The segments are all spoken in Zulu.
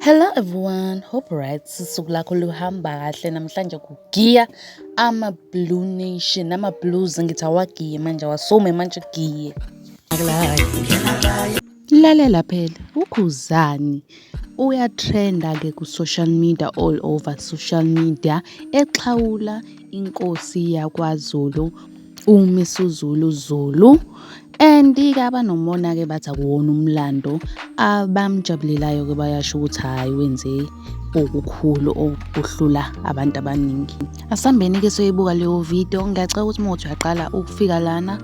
Hello everyone, hope right susuku lakho luhamba kahle namhlanje kugiya ama blue nation ama blues ngithi awagiye manje awasume manje giye lalela phela ukhuzani Uyatrenda-ke ku-social media all over social media exhawula inkosi yakwaZulu uMisuzulu Zulu and-ke abanomona-ke bathi akuwona umlando abamjabulelayo-ke bayasho ukuthi hhayi wenze okukhulu okuhlula abantu abaningi asambeni-ke soyibuka leyo video ngiyacela ukuthi uma uthi uyaqala ukufika lana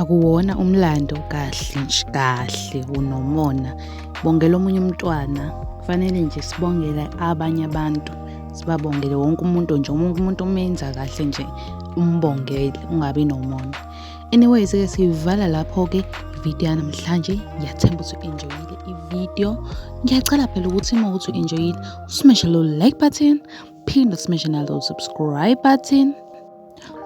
akuwona umlando kahle nje kahle unomona bongela omunye umntwana kufanele nje sibongele abanye abantu sibabongele wonke umuntu nje wonke umuntu umenza kahle nje umbongele ungabi nomona anyways ke siyivala lapho ke ividiyo yanamhlanje ngiyathemba ukuthi u-enjoyile ividiyo ngiyacela phela ukuthi uma ukuthi u-enjoyile usimeshe lo like button phinde usimeshe nalo subscribe button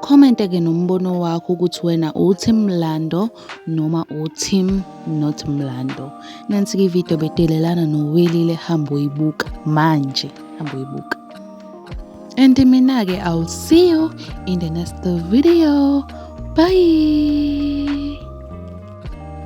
Comment ke nombono wakho ukuthi wena uTeam Mlando noma uTeam not Mlando. Nansi ke video bedelelana noWelile hamba uyibuka manje, hamba uyibuka. And mina ke I'll see you in the next video. Bye.